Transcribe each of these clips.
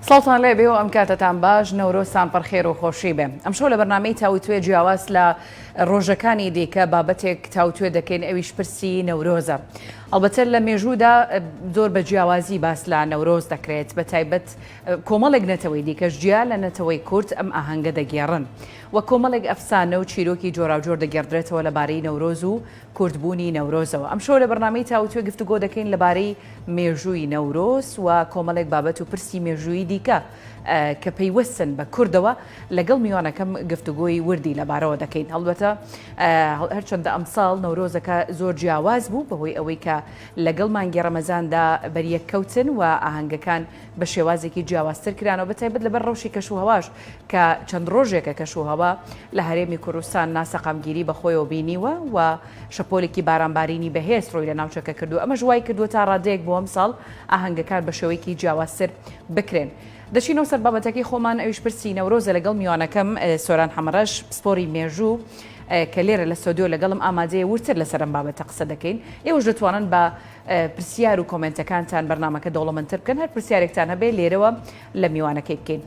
ساڵتان لێ بێ و ئەم کاتتان باش نەورۆسان پڕخێر و خۆشی بێ ئەم شەو لە بەرنمەی تاوتوێ جیاواز لە ڕۆژەکانی دیکە بابەتێک تاوتوێ دەکەین ئەویش پرسی نەورۆزە ئەڵبەتە لە مێژوودا زۆر بە جیاوازی باس لە نەورۆز دەکرێت، بە تایبەت کۆمەڵێک نەتەوەی دیکەش جیا لە نەتەوەی کورد ئەم ئاهەنگە دەگێڕن و کۆمەڵێک ئەفسانە و چیرۆکی جۆراوجۆر دەگێڕدرێتەوە لەبارەی نەورۆز و کوردبوونی نەورۆزەوە. ئەمشەو لە بەرنامەی تاووتوێ گفتوگۆ دەکەین لەبارەی مێژووی نەورۆز و کۆمەڵێک بابەت و پرسی مێژوویی دیکە کە پەیوەستن بە کوردەوە. لەگەڵ میوانەکەم گفتوگۆی وردی لەبارەوە دەکەین هەڵبەتە هەرچەندە ئەمساڵ نەورۆزەکە زۆر جیاواز بوو بەهۆی ئەوەی کە لەگەڵ مانگی ڕەمەزاندا بەریەک کەوتن و ئاهەنگەکان بە شێوازێکی جیاوازتر کرانەوە بەتایبەت لەبەر ڕەوشی کەش و هەواش کە چەند ڕۆژێکە کەش و هەوا لە هەرێمی کوردستان ناسەقامگیری بەخۆیەوە بینیوە و شەپۆلێکی بارانبارینی بەهێز ڕووی لە ناوچەکە کردو ئەمەش وای کردووە تا ڕادەیەک بۆ ئەمساڵ ئاهەنگەکان بە شێوەیەکی جیاوازتر بکرێن. دەچینەوە سەر بابەتەکەی خۆمان ئەویش پرسی نەورۆزە لەگەڵ میوانەکەم سۆران حەمەڕەش پسپۆری مێژوو کە لێرە لە ستۆدیۆ لەگەڵم ئامادەیە ورتر لەسەر ئەم بابەتە قسە دەکەین ئێوەش دەتوانن بە پرسیار و کۆمنتەکانتان بەرنمەکە دەوڵەمەندتر بکەن هەر پرسیارێکتان هەبێ لێرەوە لە میوانەکەی بکەین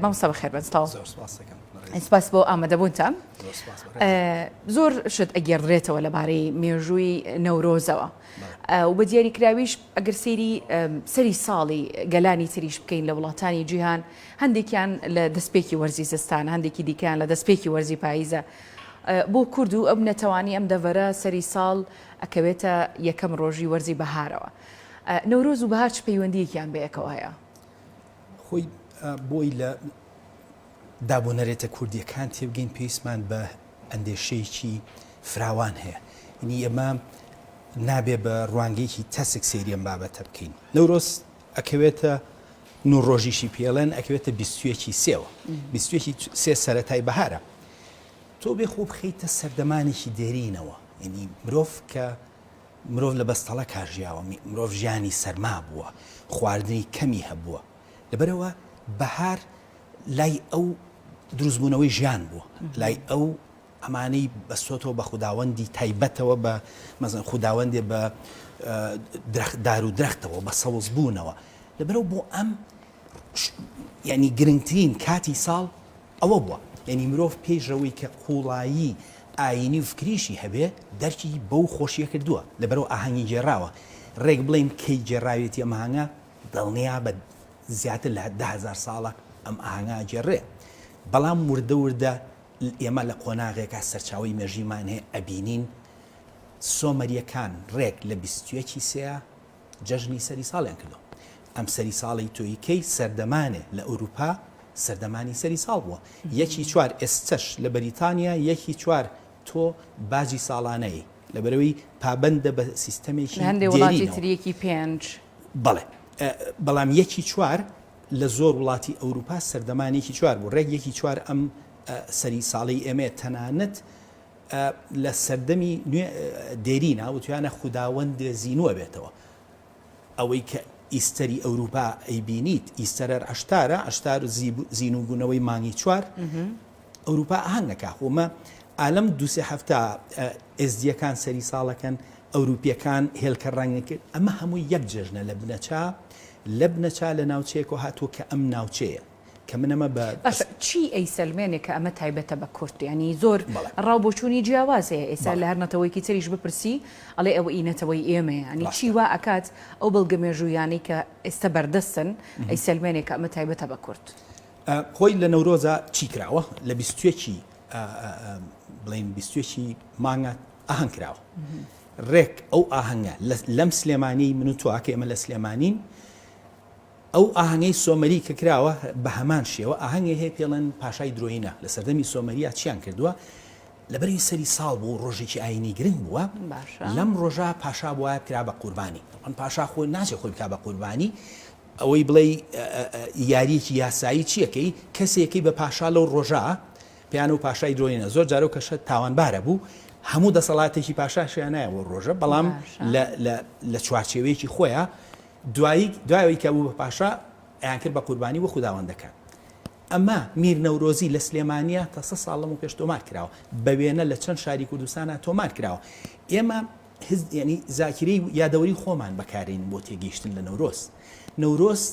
مامۆستا بەخێر بن سپاس زۆر سپاس دەکەم. سپاس بۆ ئامادەبوونتان زۆر سپاس بەڕێز. ئە، زۆر شت ئەگێڕدرێتەوە لەبارەی مێژووی نەورۆزەوە بەڵێ. ئە، و بە دیاریکراویش ئەگەر سەیری سەری ساڵی گەلانی تریش بکەین لە وڵاتانی جیهان، هەندێکیان لە دەستپێکی وەرزی زستانە، هەندێکی دیکەیان لە دەستپێکی وەرزی پاییزە، بۆ کورد و ئەو نەتەوانەی ئەم دەڤەرە سەری ساڵ ئەکەوێتە یەکەم ڕۆژی وەرزی بەهارەوە. نەورۆز و بەهار چ پەیوەندییەکیان بەیەکەوە هەیە؟ خۆی بۆی لە دا بۆ نەرێتە کوردییەکان تێبگەین پێویستمان بە ئەندێشەیەکی فراوان هەیە ینی ئێمە نابێ بە ڕوانگەیەکی تەسک سەیری ئەم بابەتە بکەین نەورۆز ئەکەوێتە نو ڕۆژیشی پێڵێن ئەکەوێتە بیستویەکی سێوە بیستویەکی سێ سەرەتای بەهارە تۆ بێ خۆ بخەیتە سەردەمانێکی دێرینەوە ینی مرۆڤ کە مرۆڤ لە بەستەڵە کاژیاوە مرۆڤ ژیانی سەرما بووە خواردنی کەمی هەبووە لەبەرەوە بەهار لای ئەو دروستبوونەوەی ژیان بووە، لای ئەو ئەمانەی بەستۆتەوە بە خوداوەندی تایبەتەوە بە مەزن خوداوەندێ بە درەخت دار و درەختەوە بە سەوز بوونەوە لەبەرەو بۆ ئەم یعنی گرنگترین کاتی ساڵ ئەوە بووە یعنی مرۆڤ پێیشەوەی کە قوڵایی ئاینی و فکریشی هەبێ دەرکی بەو خۆشیە کردووە لەبەرەوە ئاهەنگی گێراوە ڕێک بڵین کەی گێراوێتی ئەمهانگە دڵنیا بە زیاتر لە دە هەزار ساڵە ئەم ئاهەنگە ئەگێڕێ، بەڵام وردە وردە ئێمە لە قۆناغێکا سەرچاوەی مێژوویمان هەیە ئەبینین سۆمەریەکان ڕێک لە بیست و یەک ی سێ جەژنی سەری ساڵیان کردووە. ئەم سەری ساڵی تۆیکەی سەردەمانێ لە ئەوروپا سەردەمانی سەری ساڵ بووە. یەکی چوار ئێستەش لە بەریتانیا یەکی چوار تۆ باجی ساڵانەی. لەبەرئەوەی پابەندە بە سیستەمێکی دێرینەوە. لە هەندێ وڵاتی تر یەکی پێنج. بەڵێ. بەڵام یەکی چوار لە زۆر وڵاتی ئەوروپا سەردەمان یەکی چوار بوو. رێک یەکی چوار ئەم سەری ساڵەی ئێمەیە. تەنانەت لە سەردەمی نوێ دێرینا وتویانە خوداوەندێ زینوە بێتەوە. ئەوەی کە ئیستەری ئەوروپا ئەیبینیت ئیستەرەر عەشتارە، عەشتار زینوو بوونەوەی مانگی چوار، ئەوروپا ئاهەنگ ئەکا خۆ مە ئالەم دوو سێ هەفتە ئێزدیەکان سەری ساڵەکەن ئەوروپیەکان هێلکە ڕەنگ ئەکرد ئەمە هەمووی یەک جێژنە لە بنەچە لە بنەچە لە ناوچەیەکەوە هاتووە کە ئەم ناوچەیە کە من ئەمە بە باشە چی ئەیسەلمێنێ کە ئەمە تایبەتە بە کورد یانی زۆر ڕاو بۆچوونی جیاواز هەیە ئێستا لە هەر نەتەوەیەکی تریش بپرسی ئەڵێ ئەوە ئی نەتەوەی ئێمەیە یانی چی وا ئەکات ئەو بەڵگە مێژوویانەی کە ئێستا بەردەستن ئەیسەلمێنێ کە ئەمە تایبەتە بە کورد. خۆی لە نەورۆزا چی کراوە لە بیست و یەکی بڵێن بیست و یەکی مانگە ئاهەنگ کراوە ڕێک ئەو ئاهەنگە لەم سلێمانی من و تۆکە ئێمە لە سلێمانین ئەو ئاهەنگەی سۆمەری کە کراوە بە هەمان شێوە ئاهەنگی هەیە پێڵەن پاشای درۆینە لە سەردەمی سۆمەریا چیان کردووە لەبەری سەری ساڵ بوو ڕۆژێکی ئاینی گرنگ بووە لەم ڕۆژە پاشا وایە کرا بە قوربانی ئەم پاشا خۆی ناچێ خۆی بک بە قوربانی ئەوەی بڵێی یاریەکی یاسایی چیە کەی کەسێکەی بە پاشا لەو ڕۆژە پێیانەوە پاشای درۆینە زۆر جارەو کەشە تاوانبارە بوو هەموو دەسەڵاتێکی پاشاشیانایە بۆ ڕۆژە بەڵام لە چوارچێوەیەکی خۆیە دوایی دوایەوەی کە بوو بە پاشا ئەیانکرد بە قوربانی وە خودداوەندەکان ئەمە میر نەورۆزی لە سلێمانە تاسە ساڵم و پێش تۆمار کراوە بە وێنە لە چەند شاری کوردستانە تۆمار کراوە ئێمە هز یانی زاکیرەی یادەوەری خۆمان بەکارێنین بۆ تێگەیشتن لە نەورۆز. نەورۆز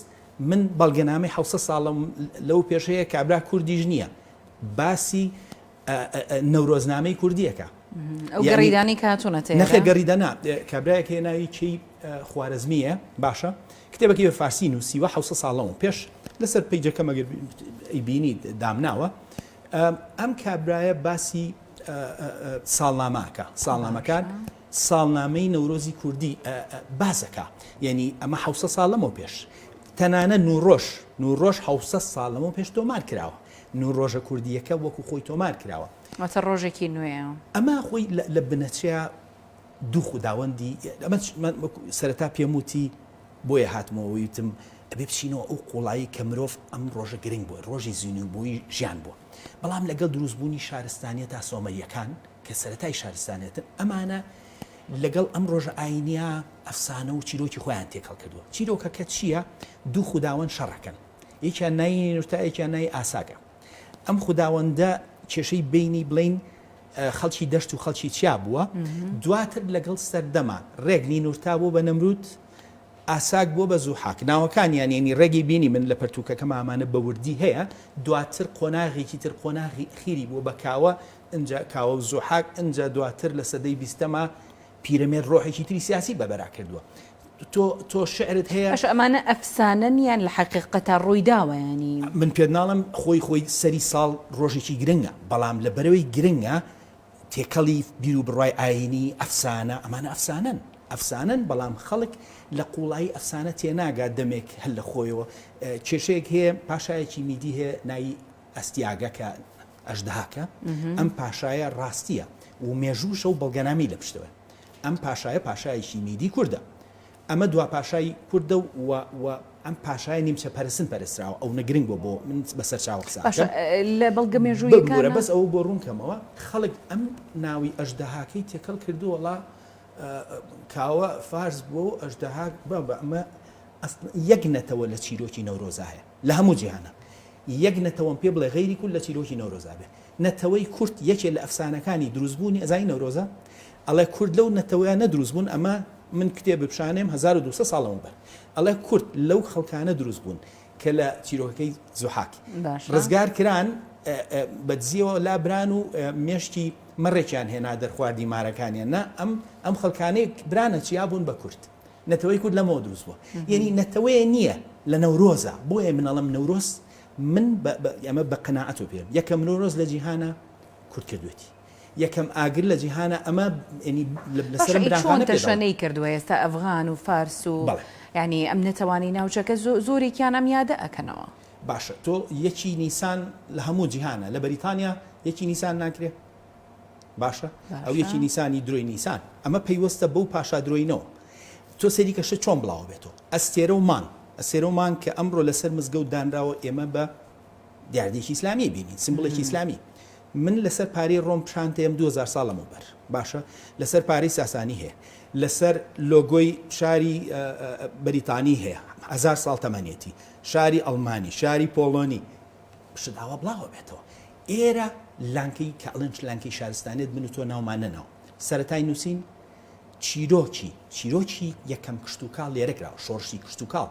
من بەڵگەنامەی حەوسەد ساڵم لەوە پێش هەیە کابرا کوردیش نییە باسی نەورۆزنامەی کوردییەکە. ئەو گەڕیدانی کە هاتوونە تێ نەخێ گەڕیدەنا کابراایەک هەیە ناوی کەی خوارزمیە باشە کتێبەکەی بە فارسی نووسیوە حوسە ساڵەوە پێش لەسەر پیجەکە مەگەر ئەی بینی دامناوە ئەم کابرایە باسی ساڵنامە ئەکا، ساڵنامەکان ساڵنامەی نەورۆزی کوردی باس ئەکا، یەنی ئەمە حەوسە ساڵ لەمەو پێش تەنانە نووڕۆژ نووڕۆژ حەوسە ساڵ لەمەو پێش تۆمار کراوە، نووڕۆژە کوردییەکە وەکو خۆی تۆمار کراوە. واتە ڕۆژێکی نوێیە. ئەما خۆی لە بنەچەیا دوو خوداوەندی ئەمە چ من وەکو سەرەتا پێم وتی بۆیە هاتمەوە ویتم ئەبێ بچینەوە ئەو قوڵایی کە مرۆڤ ئەم ڕۆژە گرنگ بووە ڕۆژی زینوبۆی ژیان بووە بەڵام لەگەڵ دروست بوونی شارستانیەتا سۆمەریەکان کە سەرەتای شارستانیەتن ئەمانە لەگەڵ ئەم ڕۆژە ئاینیە ئەفسانە و چیرۆکی خۆیان تێکەڵ کردووە چیرۆکەکە چیە دوو خوداوەند شەڕەکەن یەکیان ناینوتایەکیان نای ئاساگە. ئەم خوداوەندە کێشەی بینی بڵین خەڵکی دەشت و خەڵکی چیا بووە دواتر لەگەڵ سەردەما ڕێک نینورتا بۆ بە نەمرود ئاساک بۆ بە زوو حاک ناوەکانیان ینی ڕێگەی بینی من لە پەرتوکەکە مامانە بەوردی هەیە دواتر قۆناغێکی تر قۆناغی خیری بۆ بە کاوە ئەجا کاوە و زوحاک ئەجا دواتر لە سەدەی بیستەما پیرەمێرد ڕۆحێکی تری سیاسی بە بەرا کردووە. تۆ تۆ شعرت هەیە. باشە ئەمانە ئەفسانەن یان لە حەقیقەتا ڕوویداوە یانی. من پێت ناڵێم خۆی خۆی سەری ساڵ ڕۆژێکی گرنگە بەڵام لە بەرەی گرنگە تێکەڵی بیروبڕوای ئاینی ئەفسانە ئەمانە ئەفسانەن ئەفسانەن بەڵام خەڵک لە قوڵایی ئەفسانە تێناگات دەمێک هەر لە خۆیەوە کێشەیەک هەیە پاشایەکی میدی هەیە ناوی ئەستیاگە کە ئەژدهاکە ئەم پاشایە ڕاستیە و مێژووشە و بەڵگەنامی لە پشتەوە ئەم پاشایە پاشایەکی میدی کوردە ئەمە دوا پاشای کوردە و ئەم پاشای نیمچە پەرسن پەرسراوە ئەو نەگرنگ بۆ بۆ من بە سەرچاو قسە لە بەڵگە مێژوویەکانە بەس ئەو بۆ ڕوونکەمەوە خەڵک ئەم ناوی ئەژدەهاکەی تێکەڵ کردووەڵا کاوە فارس بۆ ئەژدەهاک بە بە ئەمە یەک نەتەوە لە چیرۆکی نەورۆزا هەیە لە هەموو جیهانا یەک نەتەوەم پێ بڵێ غەیری کورد لە چیرۆکی نەورۆزا بێ نەتەوەی کورد یەکێ لە ئەفسانەکانی دروست بوونی ئەزانی نەورۆزە ئەڵێ کورد لەو نەتەوەیانە دروست بوون ئەمە من کتێب بپشانێم هەزار و دوو سەد ساڵ لەمەوبەر ئەڵێ کورد لەو خەڵکانە دروست بوون کە لە چیرۆکەکەی زوحاک باشە ڕزگار کران ئە ئە بە دزیەوە لا بران و ئە مێشکی مەڕێکیان هێنا دەرخواردی مارەکانیان نا ئەم ئەم خەڵکانەی برانە چیا بوون بە کورد نەتەوەی کورد لەمەوە دروست بووە یەنی نەتەوەیە نییە لە نەورۆزە بۆیە من ئەڵێم نەورۆز من ئەمە بە قەناعەتەوە پێم یەکەم نەورۆز لە جیهانە کورد کردوێتی یەکەم ئاگر لە جیهانە ئەمە تەشەنەی کردووە ئێستا ئەفغان و فارس و ینی ئەم نەتەوانی ناوچەکە زۆرێکیان ئەم یادە ئەەکەنەوە باشە تۆ یەکی نیسان لە هەموو جیهانە لە بەریتانیا یەکی نیسان ناکرێت باشە ئەو یەکی نیسانی درۆی نیسان ئەمە پەیوەستە بەو پاشا درۆینەوە تۆ سەیریکە شە چۆن بڵاوە بێتەوە ئەستێرە و مانگ ئەسێرە و مانگ کە ئەمڕۆ لەسەر مزگەوت دانراوە ئێمە بە دیاردەیەکی ئیسلامی بینین سمبڵێکی ئیسلامی من لەسەر پارەی ڕۆم پشانتەیەم 2000 ساڵ لەمەوبەر باشە لەسەر پارەی ساسانی هەیە لەسەر لۆگۆی شاری بەریتانی هەیە هزار ساڵ تەمەنێتی شاری ئەڵمانی شاری پۆڵۆنی شت ئاوا بڵاوە بێتەوە ئێرە لانکەی کە ئەڵێن لانکەی شارستانێت من و تۆ ناومان نەناوە سەرەتای نووسین چیرۆکی چیرۆکی یەکەم کشتوکاڵ لێرە کراوە شۆڕشی کشتوکاڵ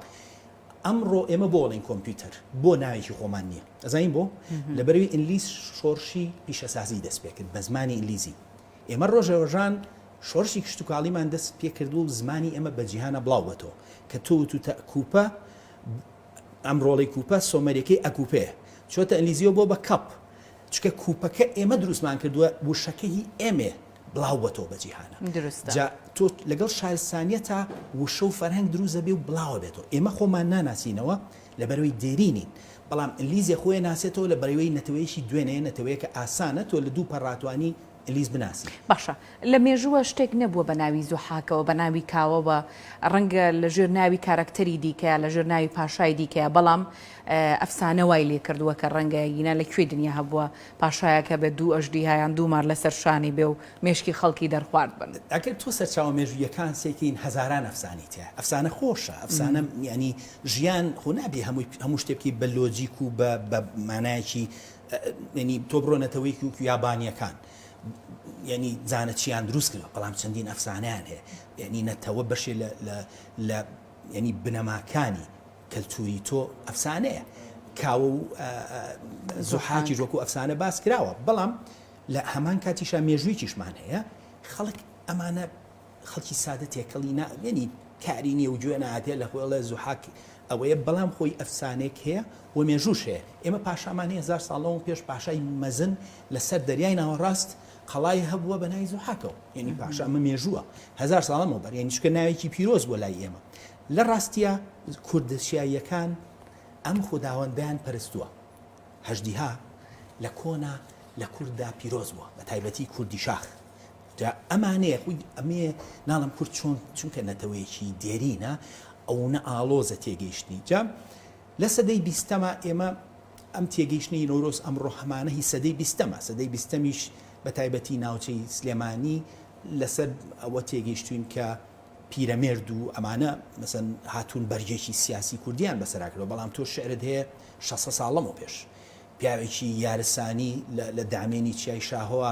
ئەمڕۆ ئێمە بۆ ئەڵێن کۆمپیوتەر بۆ ناوێکی خۆمان نییە ئەزانین بۆ لەبەروی ئینلیس شۆڕشی پیشەسازی دەست پێ کرد بە زمانی ئینلیزی ئێمە ڕۆژە ڕۆژان شۆڕشی کشتوکاڵیمان دەست پێ کردو و زمانی ئێمە بە جیهانە بڵاو بەتەوە کە تۆ و تو تەکوپە ئەم ڕۆڵەی کوپە سۆمەریەکەی ئەکوپێ چۆتە ئەنگلیزیەوە بۆ بە کەپ چکە کوپەکە ئێمە دروستمان کردوە وشەکە هی ئێمێ بڵاو بەتەوە بە جیهانە جا تۆ لەگەڵ شارستانیە تا وشە و فەرهەنگ دروست دەبێ و بڵاوە بێتەوە ئێمە خۆمان ناناسینەوە لە بەرەوەی دێرینین بەڵام ئەنگلیزیە خۆی ناسێتەوە لە بەرەوەی نەتەوەیەکی دوێنێ نەتەوەیەکە ئاسانە تۆ لە دوو پەڕاتوانی ئیلیس بناسین. باشە لە مێژووە شتێک نەبووە بە ناوی زوحاکەوە بە ناوی کاوەوە ڕەنگە لە ژێر ناوی کارەکتەری دیکەیا لە ژێر ناوی پاشای دیکەیا بەڵام ئەفسانە وای لێ کردووە کە ڕەنگە گینا لە کوێی دنیا هەبووە پاشایەک هەبێت دوو ئەژدیها یان دوو مار لەسەر شانی بێ و مێشکی خەڵکی دەرخوارد بن. ئەگەر تۆ سەرچاوە مێژووییەکان سەیکەین هەزاران ئەفسانەی تیایە ئەفسانە خۆشە ئەفسانە یانی ژیان خۆ نابێ هەمووی هەموو شتێ بکەی بە لۆجیک و بە بە مانایەکی یەنی تۆ بڕۆ نەتەوەیەکی وەکو یابانیەکان یەنی زانە چیان دروست کردوە بەڵام چەندین ئەفسانەیان هەیە یەنی نەتەوە بەشێ لە لە لە یەنی بنەماکانی کەلتوری تۆ ئەفسانەیە کاوە و زوحاکیش وەکو ئەفسانە باس کراوە بەڵام لە هەمان کاتیشا مێژوویکیشمان هەیە خەڵک ئەمانە خەڵکی سادە تێکەڵی نا یەنی کاری نیە و گوێ ناتێ لە خۆی ئەڵێ زوحاک ئەوەیە بەڵام خۆی ئەفسانەیەک هەیە و مێژووش هەیە ئێمە پاشامان هەیە هەزار ساڵ لەوەو پێش پاشای مەزن لە سەر دەریای ناوەڕاست قەڵای هەبووە بە ناوی زوحاکەوە یەنی پاشا ئەمە مێژووە هەزار ساڵ لەمەوبەر یەنی چونکە ناوێکی پیرۆز بووە لای ئێمە لە ڕاستیە کوردە چیاییەکان ئەم خوداوەندەیان پەرستووە هەژدیها لە کۆنا لە کورددا پیرۆز بووە بە تایبەتی کوردی شاخ جا ئەمانەیە خۆی ئەمەیە ناڵێم کورد چۆن چونکە نەتەوەیەکی دێرینە ئەونە ئاڵۆزە تێگەیشتنی جا لە سەدەی بیستەما ئێمە ئەم تێگەیشتنی نەورۆز ئەمڕۆ هەمانە هی سەدەی بیستەمە سەدەی بیستەمیش بە تایبەتی ناوچەی سلێمانی لەسەر ئەوە تێگەیشتوین کە پیرەمێرد و ئەمانە مەسەن هاتوون بەرگێکی سیاسی کوردیان بەسەرا کردەوە بەڵام تۆ شعرت هەیە 600 ساڵ لەمەو پێش پیاوێکی یارسانی لە دامێنی چیای شاهۆە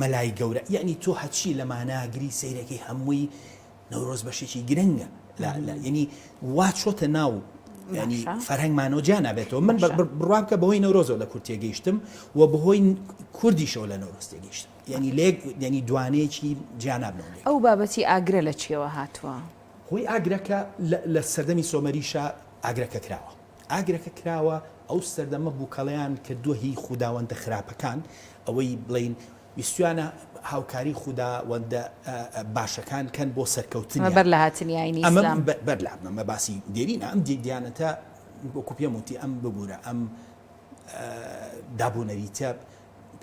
مەلای گەورە یەعنی تۆ هەچی لە مانا گری سەیرەکەی هەمووی نەورۆز بەشێکی گرنگە یەنی وا چۆتە ناو ینی فەرهەنگمانەوە جا نابێتەوە من بڕوا بکە بەهۆی نەورۆزەوە لە کورتێ گەیشتم و بەهۆی کوردیشەوە لە نەورۆز تێگەیشتم ینی لێک ینی دوانەیەکی جیانابنەوە ئەو بابەتی ئاگرە لە چیەوە هاتووە هۆی ئاگرەکە لە سەردەمی سۆمەریشە ئاگرەکە کراوە ئاگرەکە کراوە ئەو سەردەمە بوکەڵەیان کردوە هی خوداوەندە خراپەکان ئەوەی بڵین ویستویانە هاوکاری خودا وەندە باشەکان کەن بۆ سەرکەوتنیان بەر لە هاتنی ئاینی ئیسلام ئەمە بەر لە ئەمە باسی دێرینە ئەم دیانەتە وەکو پێم وتی ئەم ببورە ئەم دابونەریتە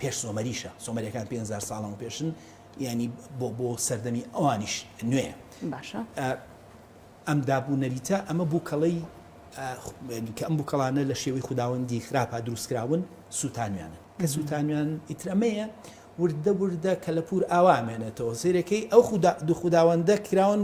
پێش سۆمەریشە سۆمەریەکان 500 ساڵەوە پێشن ینی بۆ بۆ سەردەمی ئەوانیش نوێ باشە ئەم داب و نەریتە، ئەمە بووکەڵەی کە ئەم بووکەڵانە لە شێوەی خوداوەندی خراپا دروست کراون، سووتانویانن. کە سووتانویان، ئیتر ئەمەیە وردە وردە کەلەپوور ئاوا ئەمێنێتەوە زێرەکەی ئەو خودا و خوداوەندە کراون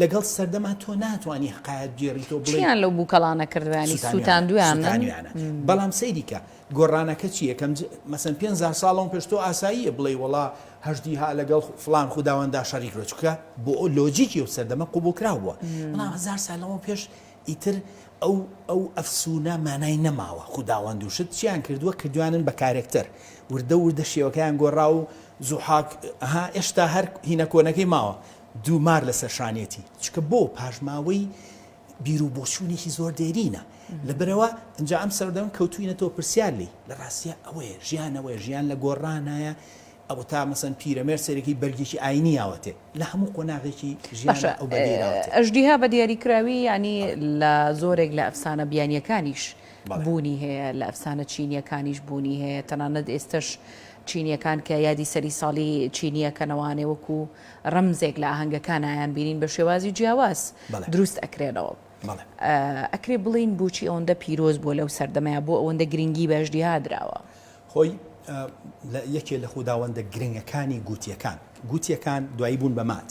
لەگەڵ سەردەما تۆ ناتوانی حەقایەت بگێڕیتەوە بڵێی. چییان لەو بووکەڵانە کردوە یانی سووتانویانە؟ سووتانویانە. بەڵام سەیری کە. گۆڕانەکە چیە کەم مەسەن پێنزار ساڵ لەمە پێش تۆ ئاساییە بڵێی وەڵا هەژدی ها لەگەڵ فڵان خوداوەندا شەریک بە چونکە بۆ ئەو لۆجیکی ئەو سەردەمە قوبوڵکراو بووە بەڵام هەزار سال لەمە پێش ئیتر ئەو ئەو ئەفسونە مانای نەماوە خوداوەند و شت چیان کردووە کردوانن بە کارێکتەر وردە وردە شێوەکەیان گۆڕا و زوحاک ها ئێشتا هەر هینە کۆنەکەی ماوە دوومار لەسەر شانێتی چکە بۆ پاشماوەی بیرو بۆچوونێکی زۆر دێرینە لەبەرئەوە ئینجا ئەم سەردەم کەوتووینەتەوە پرسیار لێی لەڕاستیا ئەوەیە ژیان ئەوەیە ژیان لە گۆڕانایە ئەوەتا مەسەن پیرەمێرد سەرەکی بەرگێکی ئاینی یاوەتێ لە هەموو قۆناغێکی ژیانە ئەو بەرگەی راوەتێ. ئەژدیها بە دیاری کراوی یانی لە زۆرێک لە ئەفسانە بیانییەکانیش بوونی هەیە لە ئەفسانە چینییەکانیش بوونی هەیە تەنانەت ئێستەش چینییەکان کە یادی سەری ساڵی چینی ئەکەنەوە ئانێ وەکوو ڕەمزێک لە ئاهەنگەکانایان بینین بە شێوازی جیاواز دروست ئەکرێنەوە ئەکرێ بڵێین بۆچی ئەوەندە پیرۆز بووە لەو سەردەمەیە بۆ ئەوەندە گرنگی بە ئەژدیها دراوە؟ خۆی لە یەکێ لە خوداوەندە گرنگەکانی گووتیەکان گووتیەکان دوایی بوون بە مات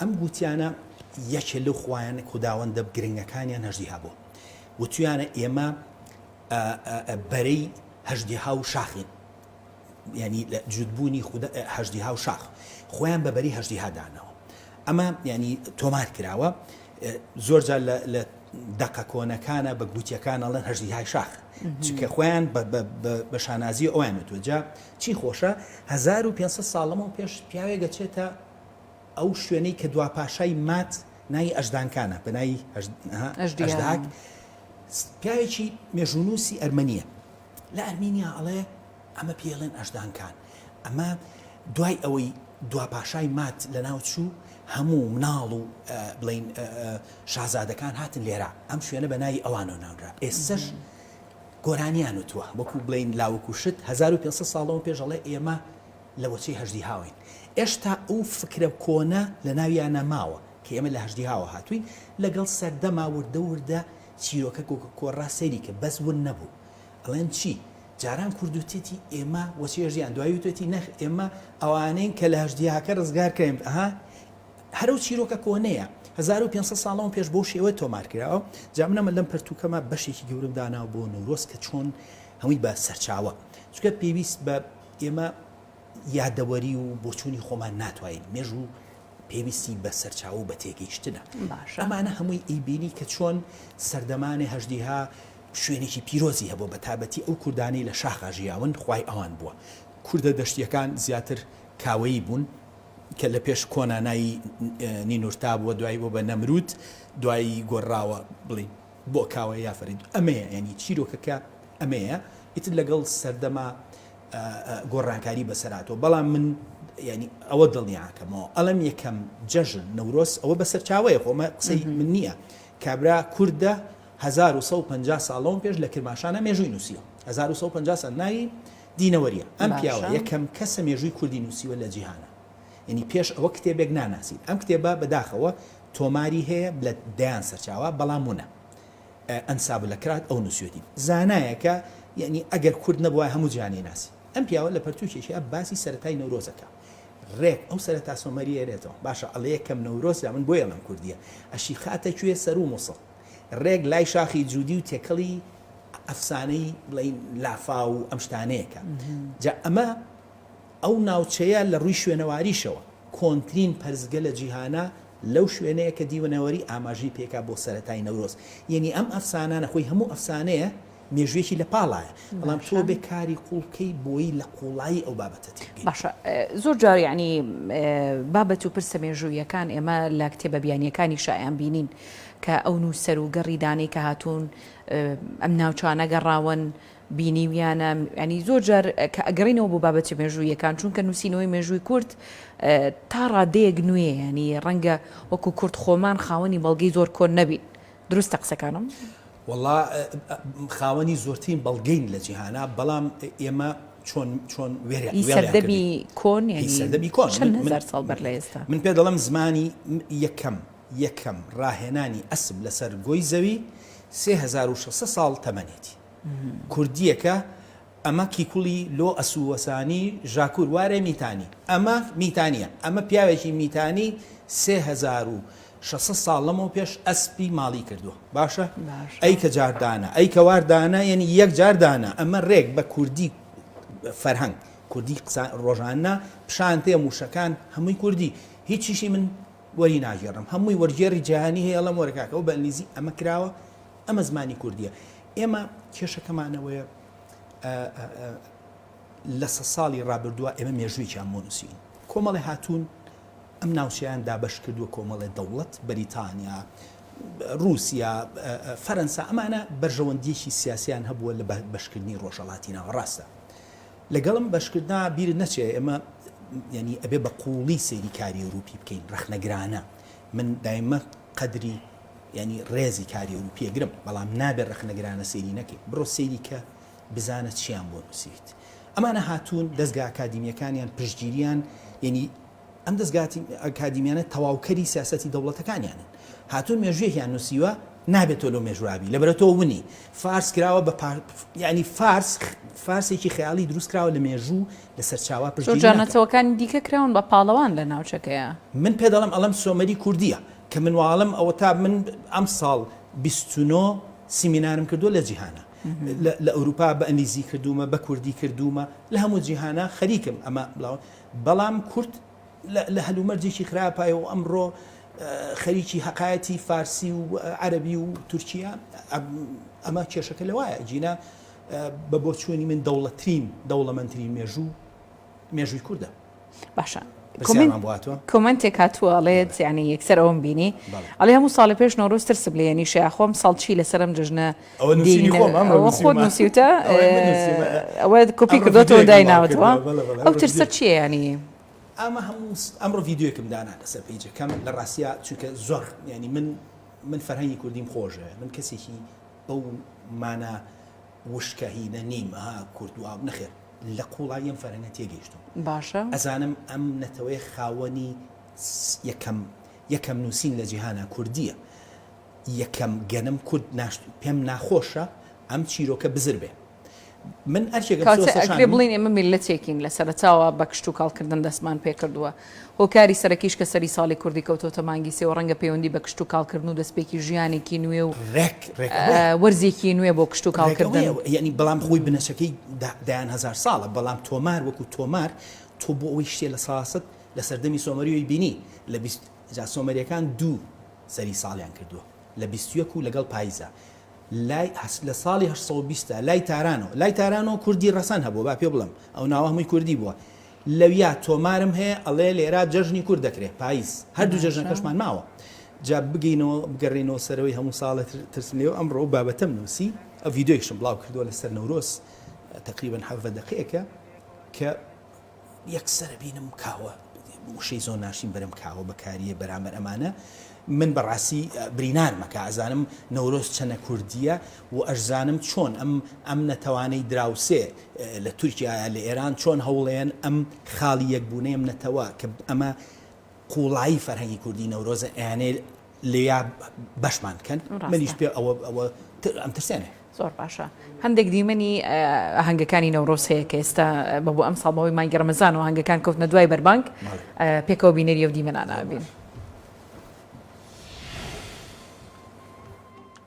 ئەم گووتیانە یەکێ لەو خوایانە خوداوەندە گرنگەکانیان هەژدیها بوو وتویانە ئێمە بەرەی هەژدیها و شاخین یانی لە جووتبوونی خودە هەژدیها و شاخ خۆیان بە بەری هەژدیها دانەوە ئەمە یانی تۆمار کراوە زۆرجار لە دەقە کۆنەکانە بە گوتیەکان ئەڵێن هەژدیهای شاخ چکە خۆیان بە شانازی ئەویان وتوەجا چی خۆشە 1500 ساڵەمەوە پێش پیاوێک گەچێتە ئەو شوێنەی کە دوا پاشای مات ناوی ئەشدانکانە بە ناوی ئەشداک پیاوێکی مێژونوسی ئەرمەنیە لە ئەرمینیا ئەڵێ ئەمە پێی ئەڵێن ئەژدانکان ئەمە دوای ئەوەی دوا پاشای ماد لەناو چوو هەموو مناڵ و بڵین شازادەکان هاتن لێرە ئەم شوێنە بە ناوی ئەوانەوە ناونرا ئێسش گۆرانیان وتووە وەکو بڵین لاوەکو شت 1500 ساڵەوە پێش ئەڵێ ئێمە لە وەچەی هەژدی هاوین ئێشتا ئەو فکرە کۆنە لە ناویانە ماوە کە ئێمە لە هەژدی هاوە هاتووین لەگەڵ سەردەما وردە وردە چیرۆکە کۆکە کۆرا سەیری کە بەس ون نەبوو ئەڵێن چی جاران کورد وتێتی ئێمە وە چێژ یان دوای وتێتی نەخ ئێمە ئەوانەین کە لە هەژدیاکە ڕزگار کراین ئەها هەر ئەو چیرۆکە کۆنەیە هەزار و پێنج سەد ساڵ لەمەو پێش بەو شێوە تۆمار کراوە جا من ئەمە لەم پەرتووکەما بەشێکی گەورەم داناوە بۆ نەورۆز کە چۆن هەمووی بە سەرچاوە چونکە پێویست بە ئێمە یادەوەری و بۆچوونی خۆمان ناتوانین مێژوو پێویستی بە سەرچاوە و بە تێگەیشتنە. باشە. ئەمانە هەمووی ئەیبینی کە چۆن سەردەمانێ هەژدیها شوێنێکی پیرۆزی هەبووە بە تابەتی ئەو کوردانەی لە شاخا ژیاون خوای ئەوان بووە. کوردە دەشتییەکان زیاتر کاوەیی بوون کە لە پێش کۆنا ناوی نینورتا بووە دوای بووە بە نەمروود دوای گۆرراوە بڵێین بۆ کاوە یا فەرید ئەمەیە یانی چیرۆکەکە ئەمەیە ئیتر لەگەڵ سەردەمە گۆڕانکاری بەسەر هاتووە بەڵام من یانی ئەوە دڵنیاکەمەوە ئەڵێم یەکەم جەژن نەورۆز ئەوە بەسەرچاوەیە خۆ ئەمە قسەی من نییە کابرا کوردە 1950 ساڵ لەوەم پێش لە کرماشانە مێژووی نووسیوە 1950 ساڵ ناوی دینەوەریە ئەم پیاوە باشە یەکەم کەسە مێژووی کوردی نووسیوە لە جیهانا یانی پێش ئەوە کتێبێک ناناسین ئەم کتێبە بەداخەوە تۆماری هەیە لە دەیان سەرچاوە بەڵام ونە ئەنسابلەکرات ئەو نوسیوەتی زانایەکە یەعنی ئەگەر کورد نەبوایە هەموو جیهان ئەیناسی ئەم پیاوە لە پەرتوکێکیا باسی سەرەتای نەورۆز ئەکا ڕێک ئەو سەرەتا سۆمەری ئەرێتەوە باشە ئەڵێ یەکەم نەورۆزە من بۆیە ئەڵێم کوردیە ئەشیخاتە کوێ سەروو موسڵ ڕێک لای شاخی جودی و تێکەڵی ئەفسانەی بڵێین لافاو و ئەم شتانەیەکە جا ئەمە ئەو ناوچەیە لە ڕووی شوێنەواریشەوە کۆنترین پەرستگە لە جیهانە لەو شوێنەیە کە دیونەوەری ئاماژەی پێکا بۆ سەرەتای نەورۆز یەنی ئەم ئەفسانانە خۆی هەموو ئەفسانەیە مێژوویەکی لە پاڵایە بەڵام تۆ بێ کاری قوڵ بکەی بۆی لە قوڵایی ئەو بابەتە تێ بگەی. باشە زۆر جار یەعنی بابەت و پرسە مێژووییەکان ئێمە لە کتێبە بیانییەکانیشا ئەیان بینین کە ئەو نووسەر و گەڕی دانەی کە هاتوون ئەم ناوچانە گەڕاون بینیویانە، یانی زۆر جار کە ئەگەڕێینەوە بۆ بابەتە مێژووییەکان، چونکە نووسینەوەی مێژووی کورد تا ڕادەیەک نوێیە، یانی ڕەنگە وەکوو کورد خۆمان خاوەنی بەڵگەی زۆر کۆن نەبین، دروستە قسەکانم؟ وەڵا خاوەنی زۆرترین بەڵگەین لە جیهانا، بەڵام ئێمە چۆن چۆن وێریان کردین؟ هی سەردەمی کۆن یانی سەردەمی کۆن چەند هەزار ساڵ بەر لە ئێستا؟ من پێت دەڵێم زمانی یەکەم یەکەم ڕاهێنانی ئەسپ لەسەر گۆی زەوی سێ هەزار و شەش سەد ساڵ تەمەنێتی. کوردییەکە ئەمە کیکوڵی لۆ ئەسووەسانی ژاکوور وارێ میتانی. ئەمە میتانییە. ئەمە پیاوێکی میتانی سێ هەزار و شەش سەد ساڵ لەمەو پێش ئەسپی ماڵی کردووە. باشە؟ ئەی کە جار دانە، ئەی کە وار دانە یەنی یەک جار دانە. ئەمە رێک بە کوردی فەرهەنگ، کوردی قسە رۆژانە، پیشان تێ مووشەکان هەمووی کوردی. هیچیشی من وەری ناگێڕم. هەمووی وەرگێڕی جیهانی هەیە ئەڵێم وەرە کاکە ئەو بە ئینگلیزی ئەمە کراوە. ئەمە زمانی کوردیە ئێمە کێشەکەمانەوەیە لە سە ساڵی ڕابردووە ئێمە مێژوویان بۆ نووسین کۆمەڵی هاتوون ئەم ناوچیان دابش کردووە کۆمەڵێ دەوڵەت بەریتانیا رووسیا فەرەنسا ئەمانە بەرژەوەندیەکی سیاسیان هەبووە لە بەشکردنی ڕۆژەڵاتی ناوە ڕاستە لەگەڵم بەشکردنا بیر نەچێ ئێمە ینی ئەبێ بە قوڵی سەیری کاری ئەوروپی بکەین ڕخنەگرانە من دایمە قەدری یانی ڕێزی کاری ئەوروپیە گرم بەڵام نابێ ڕەخنەگرانە سەیری نەکەی بڕۆ سەیری کە بزانە چیان بۆ نوسیویت ئەمانە هاتوون دەزگا ئەکادیمیەکانیان پشتگیریان یانی ئەم دەزگا ئەکادیمیانە تەواوکەری سیاسەتی دەوڵەتەکانیانن هاتوون مێژویەکیان نوسیوە نابێت تۆ لەو مێژوابی لەبەرە تۆ ونی فارس کراوە بە پار... یعنی فارس فارسێکی خەیاڵی دروست کراوە لە مێژوو لە سەرچاوە پشتگیری نەتەوەکانی دیکە کراون بە پاڵەوان لە ناوچەکەیە من پێ دەڵم ئەڵم سۆمەری کوردیە کە منواڵم ئەوەتا من ئەم ساڵ بیست و نۆ سیمینارم کردوە لە جیهانا لە ئەوروپا بە ئەنگلیزی کردومە بە کوردی کردومە لە هەموو جیهانا خەریکم ئەمە بڵاوە بەڵام کورد لە هەلومەرجێکی خراپایە و ئەمڕۆ خەریکی هەقایەتی فارسی و عەربی و تورکیا ئەمە کێشەکە لەوایە جینا بە بۆچوونی من دەوڵەترین دەوڵەمەندترین مێژوو مێژووی کوردە باشە کۆمنتێک هاتووە ئەڵێت یانی یەکسەر ئەوم بینی ئەڵێ هەموو ساڵی پێش نۆرۆز ترسم لێ نیشە خۆم ساڵ چی لەسەرم جژنە خۆت نووسیوتە ئەوە کۆپی کردۆتەوە دایناوتەوە ئەو ترسە چیە ینی ئەمە هەموو ئەمڕۆ یددیوەکم دانا لەسەر پیجەکەم لە ڕاستە چونکە زۆر ینی من من فەرهەنگی کوردیم خۆشە من کەسێکی بەو مانە وشکە هینە نیم ها کورد واب نەخێر لە قوڵایی ئەم فەرهەنگە تێگەیشتوم باشە. ئەزانم ئەم نەتەوەیە خاوەنی یەکەم یەکەم نوسین لە جیهانا کوردیە یەکەم گەنم کورد ناشت پێم ناخۆشە ئەم چیرۆکە بزر بێ من ئەرکێکم کاچێ ئەکرێ بڵێین ئێمە میللەتێکین لە سەرەتاوە بە کشتوکاڵ کردن دەستمان پێکردوە هۆکاری سەرەکیش کە سەری ساڵی کوردی کەوتۆتە مانگی سێ و ڕەنگە پەیوەندی بە کشتوکاڵ کردن و دەستپێکی ژیانێکی نوێ و ڕێک ڕێک ئەوەیە. وەرزێکی نوێ بۆ کشتوکاڵ ڕێک کردن. ئەوەیە یەعنی بەڵام خۆی بنەچەکەی دە دەیان هەزار ساڵە بەڵام تۆمار وەکو تۆمار تۆ بۆ ئەوەی شتێ لە ساست لە سەردەمی سۆمەریۆی بینی لە بیست جا سۆمەریەکان دوو سەری ساڵیان کردوە لە بیست و یەک و لەگەڵ پایزە لای هەس لە ساڵی هەشت سەد و بیست لای تارانۆ لای تارانۆ کوردی ڕەسەن هەبوە با پێ بڵێم ئەو ناوە هەمووی کوردی بوە لەویا تۆمارم هەیە ئەڵێ لێرا جەژنی کورد دەکرێ پایز هەردوو جەژنەکەشمان ماوە جا بگەینەوە بگەڕێینەوە سەرەوەی هەموو ساڵێ ترسم لێو ئەمڕۆ و بابەتەم نووسی ئە ڤیدۆیشم بڵاو کردووە لەسەر نەورۆز تقریبا حەڤە دەقەیەکە کە یەکسەرە بینم کاوە وشەی زۆر ناشین بەرەم کاوە بەکاریە بەرامبەر ئەمانە من بەڕاستی برینار مەکە ئەزانم نەورۆز چەنە کوردیە و ئەشزانم چۆن ئەم ئەم نەتەوانەی دراوسێ لە تورکیا یا لە ئێران چۆن هەوڵەیەن ئەم خاڵی یەکبوونەی ئەم نەتەوە کە ئەمە قووڵایی فەرهەنگی کوردی نەورۆزە ئەیانێ لێیا بەشمان بکەن منیش پێ ئەوە ئەوە ئەم ترسێنێ زۆر باشە هەندێک دیمەنی هەنگەکانی نەورۆز هەیە کە ئێستا بە بۆ ئەم ساڵبەوەی مانگی ڕمەزان و هەنگەکان کەوتنە دوای بەربانگ پێکەوە بینەری و دیمەنانابین.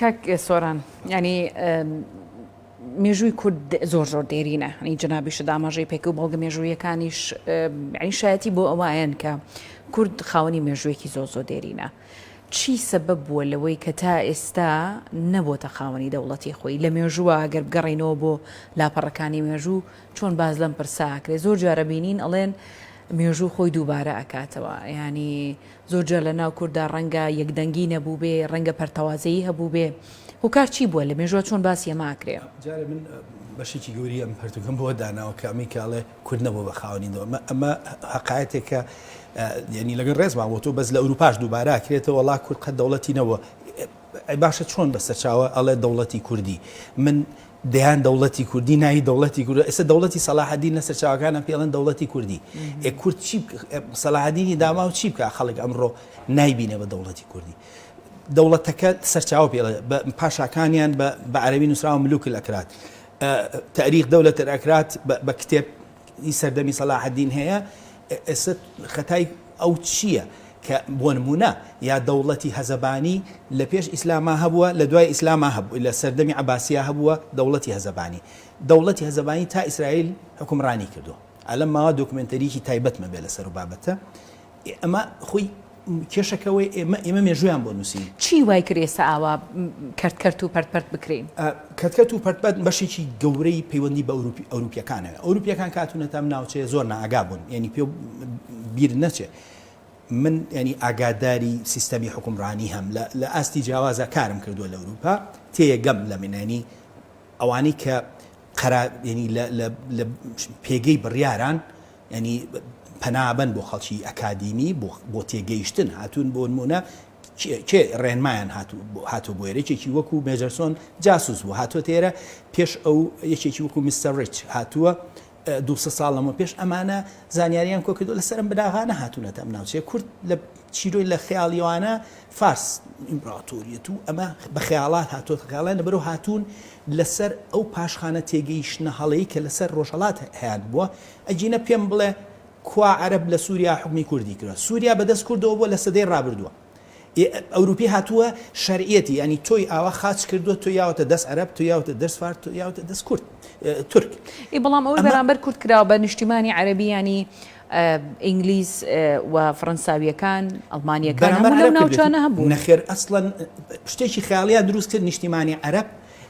کاک سۆران ینی مێژووی کورد زۆر زۆر دێرینە هەنی جنابیش داماژەی پێک و بەڵگە مێژوویەکانیش عیشایەتی بۆ ئەوایەن کە کورد خاوەنی مێژوویەکی زۆر زۆر دێرینە چی سەبەب بووە لەوەی کە تا ئێستا نەبۆتە خاوەنی دەوڵەتی خۆی؟ لە مێژووە ئەگەر بگەڕێینەوە بۆ لاپەڕەکانی مێژوو چۆن باس لەم پرسە ئەکرێ زۆر جار ئەبینین ئەڵێن مێژوو خۆی دووبارە ئەکاتەوە یانی زۆر جار لە ناو کورددا ڕەنگە یەکدەنگی نەبووبێ ڕەنگە پەرتەوازەیی هەبووبێ هۆکار چی بووە لە مێژووە چۆن باسی ئەمە ئەکرێ؟ جارێ من بەشێکی گەوری ئەم پەرتوکەم بۆ داناوە کە ئەمەی کاڵێ، کورد نەبووە بە خاوەنی دەوڵەت. ئەمە ئەمە هەقایەتێکە یعنی لەگەڵ ڕێزما بۆ تۆ بەس لە ئەوروپاش دووبارە ئەکرێتەوە وەڵا کورد قەت دەوڵەتی نەبووە. ئەی باشە چۆن بە سەرچاوە ئەڵێ دەوڵەتی کوردی من دەیان دەوڵەتی کوردی ناوی دەوڵەتی کورد ئێستا دەوڵەتی سەلاحەدین لە سەرچاوەکانە پێڵێن دەوڵەتی کوردی ئێ کورد چی سەلاحەدینی داما و چی بکە خەڵک ئەمڕۆ نایبینە بە دەوڵەتی کوردی دەوڵەتەکە سەرچاو پێڵێ پاشاکانیان بە عەربی نووسراوە ملوک ئەکرات ئە تاریخ دەولە تە ئەکرات بە بە کتێب ی سەردەمی سەلاحەدین هەیە ئێستا خەتای ئەو چیە کە بۆ نمونە یا دەوڵەتی هەزەبانی لە پێش ئیسلاما هەبوە لە دوای ئیسلاما هەب لە سەردەمی عەباسیا هەبوە دەوڵەتی هەزەبانی دەوڵەتی هەزەبانی تا ئیسرایل حوکمڕانی کردوە ئالەم ماوە دۆکمێنتەریکی تایبەتمە بێ لە سەرو بابەتە ئێ ئەمە خۆی کێشەکە ئەوەیە ئێمە ئێمە مێژوویان بۆ نووسین. چی وای کرد ئێستا ئاوا کەرتکەرت و پەرتپەرت بکرێین؟ کەرتکەرت و پەرتپەرت بەشێکی گەورەی پەیوەندی بە ئەوروپییەکانە. ئەوروپییەکان کە هاتوونەتە ئەم ناوچەیە زۆر نائاگا بوون، یانی پێ بیر نەچێ من یانی ئاگاداری سیستەمی حوکمڕانی هەم لە ئاستی جیاوازا کارم کردووە لە ئەوروپا تێگەم لە منێنی ئەوانەی کە قەرا یعنی لە پێگەی بڕیاران یانی پەنابەن بۆ خەڵکی ئەکادیمی بۆ تێگەیشتن هاتوون بۆنموونە کێ ڕێنمایان هاتووە بۆ ئێرە یەکێکی وەکو مێجەرسۆن جاسوس بوو هاتووەتە ئێرە پێش ئەو یەکێکی وەکو مستەر ڕیچ هاتووە دو ساڵ لەمە پێش ئەمانە زانیاریان کۆ کردو لەسەرم بناغانە هاتوونەتە ئەم ناوچەیە کورد لە چیرۆی لە خەیاڵیوانە فارس ئیمپراتۆریەت و ئەمە بە خەیاڵات هاتووە خەیاڵیان لەبەرەوە هاتوون لەسەر ئەو پاشخانە تێگەیشتنە هەڵەی کە لەسەر ڕۆژهەڵات هەیان بووە ئەگینە پێم بڵێ کوا عەرەب لە سوریا حوکمی کوردی کردوە سوریا بە دەست کوردەوە بوە لە سەدەی ڕابردوە ی ئەوروپی هاتوە شەرعیەتی یانی تۆی ئاوا خاچ کردوە تۆ یاوەتە دەست عەرەب تۆ یاوەتە دەست فارس تۆ یاوەتە دەست کورد تورک ی بەڵام ئەوەی بەرامبەر کورد کراوە بە نیشتیمانی عەرەبی یانی ئینگلیز و فرەنساویەکان ئەڵمانیەکان هەموو لەو ناوچانە هەبوون. نەخێر ئەسڵەن شتێکی خەیاڵیان دروست کرد نیشتیمانی عەرەب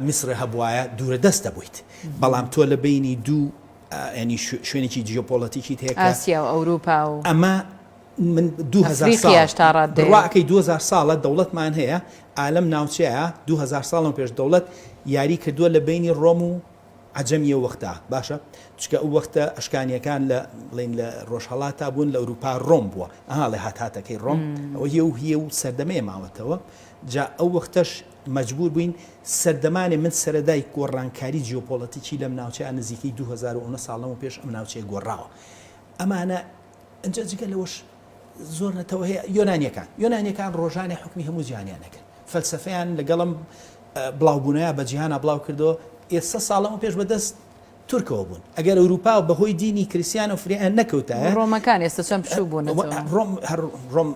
میسر هەبوایە دوورە دەست دەبویت بەڵام تۆ لە بەینی دوو ینی شوێنێکی جیۆپۆلەتیکیت هەیە کە ئاسیا و ئەوروپا و ئەمە من دوو هەزار ساڵ ئەفریقیاش تا ڕاددەیە. بڕواکەی دوو هەزار ساڵە دەوڵەتمان هەیە ئا لەم ناوچەیە دوو هەزار ساڵ لەمەو پێش دەوڵەت یاری کردوە لە بەینی ڕۆم و عەجەمی ئەو وەختا باشە چونکە ئەو وەختە ئەشکانیەکان لە بڵێین لە ڕۆژهەڵاتا بوون لە ئەوروپا ڕۆم بووە ئەها ڵێ هاتهاتەکەی ڕۆم ئەوە هیە و هیە و سەردەمەیە ماوەتەوە جا ئەو وەختەش مەجبوور بووین سەردەمانێ من سەرەدای گۆڕانکاری جیۆپۆڵەتیکی لەم ناوچەیە نزیکەی دوو هەزار و نۆ ساڵ لەمەو پێش ئەم ناوچەیە گۆڕاوە ئەمانە ئەنجا جگە لەوەش زۆر نەتەوە هەیە یۆنانیەکان یۆنانیەکان ڕۆژانێ حکمی هەموو جیهانیان نەکرد فەلسفەیان لەگەڵم بڵاوبوونەیە بە جیهانا بڵاو کردەوە ئێستا ساڵە و پێش بەدەست تورکەوە بوون ئەگەر ئەوروپا و بەهۆی دینی کریسیان و فریان نەکەوتایە ڕۆمەکان ئێستا چەند بچوو بوون ڕۆم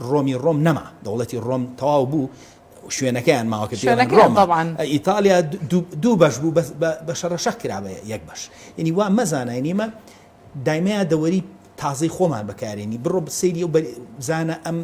ڕۆمی ڕۆم نەما دەوڵەتی ڕۆم تەواو بوو شوێنەکەیان ماوە کە پێیان شوێنەکەیان ڕۆما تەبعەن. ئە ئیتالیا دوو دوو بەش بوو بەس بە بە شەڕەشەق کرا بە یەک بەش یعنی وا مەزانە یعنی ئێمە دایمە یادەوەری تازەی خۆمان بەکارێنی بڕۆ سەیری ئەو بەر بزانە ئەم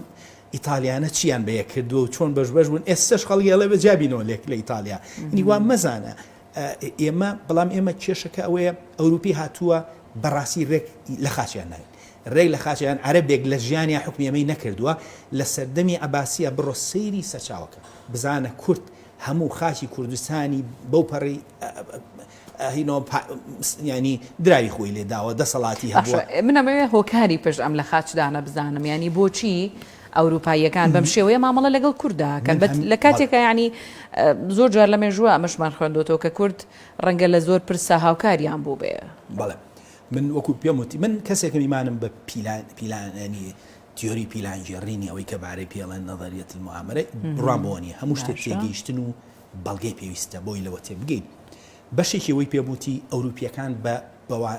ئیتالیانە چیان بە یەک کردووە و چۆن بەش بەش بوون ئێستاش خەڵکی ئەڵێ بە جابینەوە لێک لە ئیتالیا یعنی وا مەزانە ئە ئێمە بەڵام ئێمە کێشەکە ئەوەیە ئەوروپی هاتووە بەڕاستی ڕێک لە خاچیان ناوین رێک لە خاچە یان عەرەبێک لە ژیانیا حوکمی ئەمەی نەکردووە لە سەردەمی عەباسیە بڕۆ سەیری سەرچاوەکە بزانە کورد هەموو خاکی کوردستانی بەو پەڕی یانی دراوی خۆی لێ داوە دەسەڵاتی هەبووە. باشە من ئەمەوێ هۆکاری پشت ئەم لە خاچ دانە بزانم یانی بۆچی ئەوروپاییەکان بەم شێوەیە مامەڵە لەگەڵ کورددا ئەکەن بەت لە کاتێکا یانی زۆر جار لە مێژووە ئەمەشمان خوێندۆتەوە کە کورد رەنگە لە زۆر پرسا هاوکاریان بووبێ. بەڵێ من وەکو پێم وت من کەسێکم ئیمانم بە پیلان پیلان یعنی تیۆری پیلانگێڕینی ئەوەی کە بارەی پێڵێن نەظەریەت المؤامرە بڕوام بۆ نییە هەموو شتێک باشە. تێگەیشتن و بەڵگەی پێویستە بۆی لەوە تێبگەین بەشێکی ئەوەی پێم وتی ئەوروپییەکان بە بەوا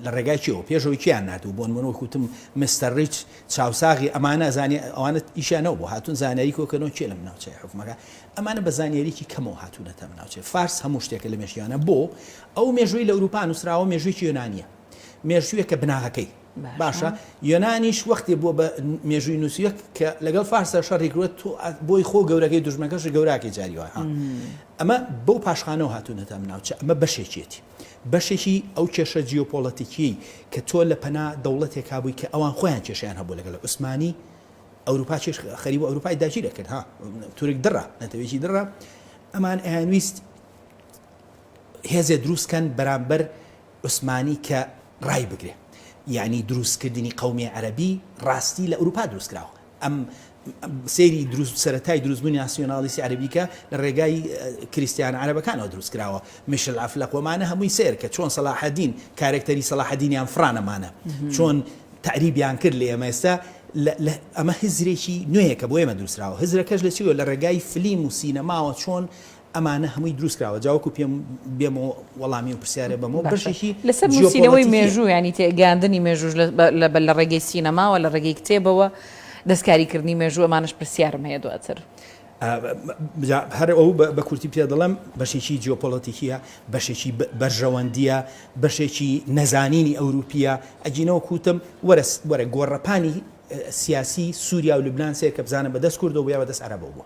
لە ڕێگای چیەوە پێشەوەی کیان نردوو بۆن من وەکو وتم مستەر ڕیچ چاوساغی ئەمانە ئەزانێ ئەوانە ئیشیانەوە بۆ هاتوون زانیاری کۆکەنەوە کێ لەم ناوچەی حکومەکە ئەمانە بە زانیاریی کەمەوە هاتوونەتە ئەم ناوچەی فارس هەموو شتێکە لە مێژیانە بۆ ئەو مێژووەی لە ئورووپا نووسراوە مێژووێکی یۆنانییە، مێژووێکە بناغەکەی باشە، یۆنانیش وەختێ بووە بە مێژووی نووسیوێک کە لەگەڵ فارسدا شەڕی کرووە تۆ بۆی خۆ گەورەکەی دوژمنەکەشی گەوراکەی جاری وایە ها ئەمە بەو پاشخانەوە هاتوونەتە ئەم ناوچە ئەمە بەشێکێتی بەشێکی ئەو کێشە جیۆپۆلەتیکی کە تۆ لە پەنا دەوڵەتێکا بووی کە ئەوان خۆیان کێشیان هەبوو لەگەڵ عوسمانی ئەوروپا چێش خەریب و ئەوروپای داگیرەکرد ها تورک دڕە نەتەوێکی دڕە ئەمان ئەیانویست هێزێ دروست کەن بەرامبەر عوسمانی کە ڕای بگرێ یانی دروست کردنی قەومیێ عەرەبی ڕاستی لە ئوروپا دروست کراوە ئەم سێری دروست سەرەتای دروستبوونی ناسیۆنالیسی عەرەبی کە لە ڕێگای کریستیان عەرەبەکانەوە دروست کراوە میشل ئەفلەق وەمانە هەمووی سێر کە چۆن سەلاحەدین کارێکتەری سەلاحەدینیان فرانەمانە چۆن تعریبیان کرد لە ئێمە ئێستا ئەمە هزرێکی نوێیەکە بۆ ئێمە دووسراوە هزرەکەش لە چیوە لە ڕێگای فلیم و سینەماوە چۆن ئەمانە هەمووی دروست کراوە جا وەکو پێم بێم و وەڵامی و پرسیارێ بەمەوە بەشێکی باشە لەسەر نووسینەوەی جیۆپۆلەتیکیە. مێژوو یانی تێ گەیاندنی مێژووش لە لە بە لە ڕێگەی سینەماوە لە ڕێگەی کتێبەوە دەستکاری کردنی مێژوو ئەمانەش پرسیارم هەیە دواتر. جا هەر ئەو بە بە کورتی پێ دەڵێم بەشێکی جیۆپۆلەتیکیە بەشێکی بە بەرژەوەندیە بەشێکی نەزانینی ئەوروپیە ئەگینە وەکو وتم وەرە وەرە گۆڕەپانی سیاسی سووریا و لوبنان سەیرکە بزانە بە دەست کوردەوە بوو یا بە دەست عەرەبەوە بووە.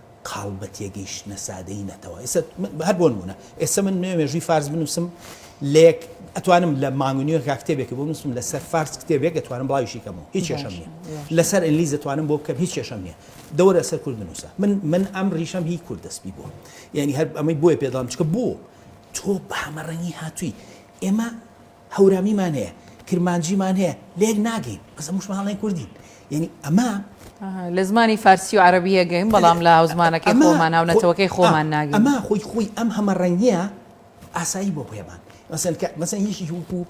قاڵ بە تێگەیشتنە سادەیی نەتەوە ئێستا من هەر بۆ نموونە ئێستا من نوێ مێژووی فارس بنووسم لە یەک ئەتوانم لە مانگ و نیوێکا کتێبێکی بۆ بنووسم لەسەر فارس کتێبێک ئەتوانم بڵاویشی کەمەوە هیچ کێشەم نییە باشە باشە. لەسەر ئینگلیز ئەتوانم بۆ بکەم هیچ کێشەم نییە دە وەرە لەسەر کورد بنووسە من من ئەم ڕیشەم هی کورد دەست پی بووە یعنی هەر ئەمەی بۆیە پێ دەڵێم چونکە بۆ تۆ بە هەمەڕەنگی هاتووی ئێمە هەورامیمان هەیە کرمانجیمان هەیە لەیەک ناگەین بەس هەموو شمان هەڵەی کوردین یەنی ئەمە. ئەها لە زمانی فارسی و عەرەبی یەکگەین بەڵام لە هاوزمانەکەی خۆمان هاو نەتەوەکەی خۆمان ناگەین. ئەمە خۆی خۆی ئەم هەمە ڕەنگییە ئاسایی بۆ پێمان مەسەن کە مەسەن یەکێکی وەکوو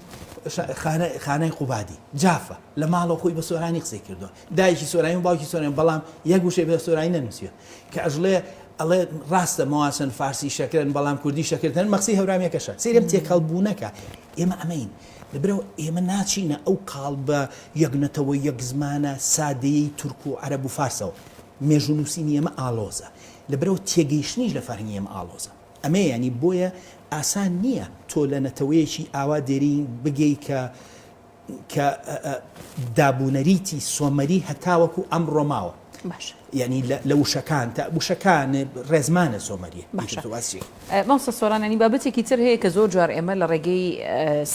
خانە خانەی قوبادی جافە لە ماڵەوە خۆی بە سۆرانی قسەی کردووە دایکی سۆرانی و باوکی سۆرانی بەڵام یەک وشەی بە سۆرانی نەنووسیوە کە ئەژڵێ ئەڵێ ڕاستە مەواسن فارسی شەکرن بەڵام کوردی شەکردن مەخسی هەورامیەکەشە سیرم تێکەڵ بوونەکە ئێمە ئەمەین لەبرەوە ئێمە ناچینە ئەو قاڵ بە یەکنەتەوە یەک زمانە سادەیەی تورک و عەرەب و فارسەوە مێژوو نووسینی ئەمە ئالۆزە لە برەو تێگەیشتنیش لە فەرهنگی ئەمە ئالۆزە ئەمە ینی بۆیە ئاسان نییە تۆ لە نەتەوەیەکی ئاوا دێرین بگەی کە کە دابونەریتی سۆمەری هەتاوەکو ئەمڕۆ ماوە باشە یانی لە وشەکان تا وشەکان ڕێزمانە سۆمەریە باشە مامۆستا سۆران ینی بابەتێکی تر هەیە کە زۆر جار ئێمە لە ڕێگەی